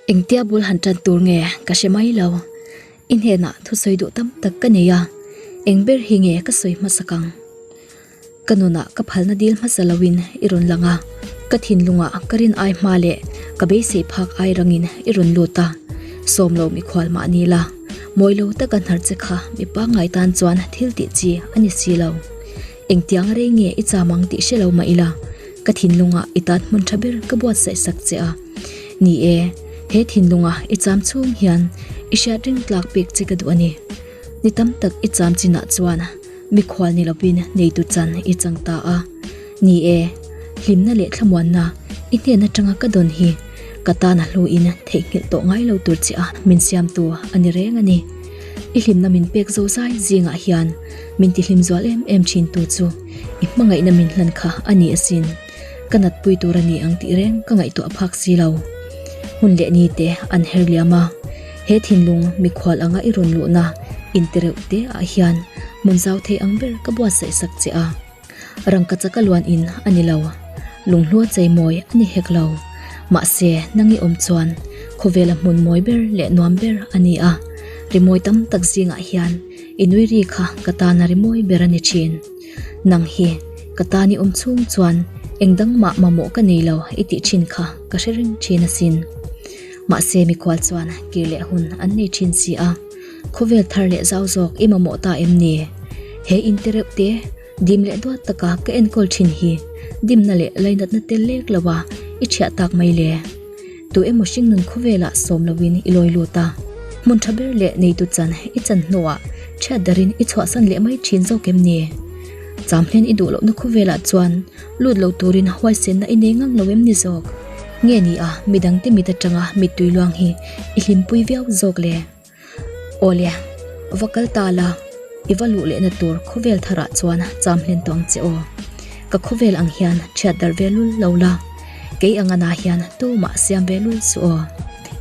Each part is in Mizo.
Engtia bul han tan tur nge ka hre mai lo i hnena thusawi duh tam tak ka nei a engber hi nge ka sawi hmasa kang ka nuna ka phalna dil hmasa loin i rawn lang a ka thinlunga ka rin ai hma leh ka beisei phak ai rangin i rawn lut a sawmlo mikhual mah ni la. Mawi lo tak a hnarh che kha mi pangngai tan chuan thil tih chi a ni si lo. Engtiang rei nge i cham ang tih hre lo mah ila, ka thinlunga i tan hmun tha ber ka buatsaih sak che a. Ni e, he thinlunga i cham chhung hian i hriat ringtlak pek che ka duh a ni. Ni tam tak i cham chinah chuan. Mikhual ni lovin neitu chan i chang ta a ni e, hlimna leh thlamuanna i hnen atanga ka dawn hi ka tana hluin theihnghilh tawh ngai lo tur chiah a min siamtu a ni reng a ni. I hlimna min pek zo zai zingah hian min tihlim zual em em thin tu chu i hmangaihna min hlan kha a ni asin. Ka natpui tur a ni ang tih reng ka ngaihtuah a phak si lo. Hmun leh ni te an her liam a, he thinlung mikhual anga i rawn luhna in ti reuh te ah hian hmun zau thei ang ber ka buatsaih sak che a. Rangka chaka luan in a ni lo, lunghlua chei mawi a ni hek lo. Mahse nang i awm chuan khawvel a hmun mawi ber leh nuam ber a ni a, rimawi tam tak zingah hian i nui ri kha ka tana rimawi ber a ni thin. Nang hi ka tan i awm chhung chuan engdang mah mamawh ka nei lo i tih thin kha ka hre reng thin asin. Mahse mikhual chuan kir leh hun an nei thin si a, khawvel thar leh zau zawk i mamawh ta em ni? He inte reuh te dim leh duat taka ka enkawl thin hi dimna leh lainatna tel lek lo a i thiah tak mai le. Tu emaw hring nun khawvelah sawm loin i lawi lut a, hmun tha ber leh neitu chan i chan hnuah thiat darin i chhuahsan leh mai thin zawk em ni? Châmhlen i duh lohna khawvelah chuan lut lo turin huaisenna i nei ngang lo em ni zawk? Nge nia, midangte mit atanga mittui luang hi i hlimpui viau zawk le? Awle, va kal ta la, i va luh lehna tur khawvel thar ah chuan cham hlen tawh ang che aw. Ka khawvel ang hian thiat darh ve lul lo la, kei ang anah hian tumah siam ve lul suh aw.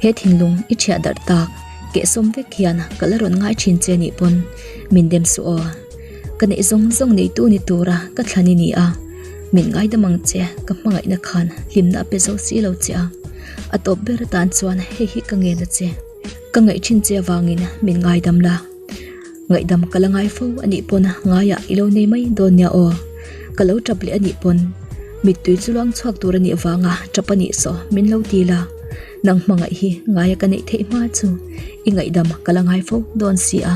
He thinlung i thiah darh tak, kehsawm vek hian ka la rawn ngai thin che nih pawn min dem suh aw. Ka neih zawng zawng neitu ni tura ka thlan i ni a, min ngaidam ang che, ka hmangaihna khan hlimna a pe zo si lo che a. A tawp ber atan chuan hei hi ka ngen a che. Ka ngaih thin che avangin min ngaidam la, ngaihdam ka la ngai fo anih pawn ngaiah i lo nei mai dawn nia aw. Ka lo tap leh anih pawn mittui chu luang chhuak tur anih avanga tap anih sawh min lo ti la, nang hmangaih hi ngaia ka neih theih hma chu i ngaihdam ka la ngai fo dawn si a.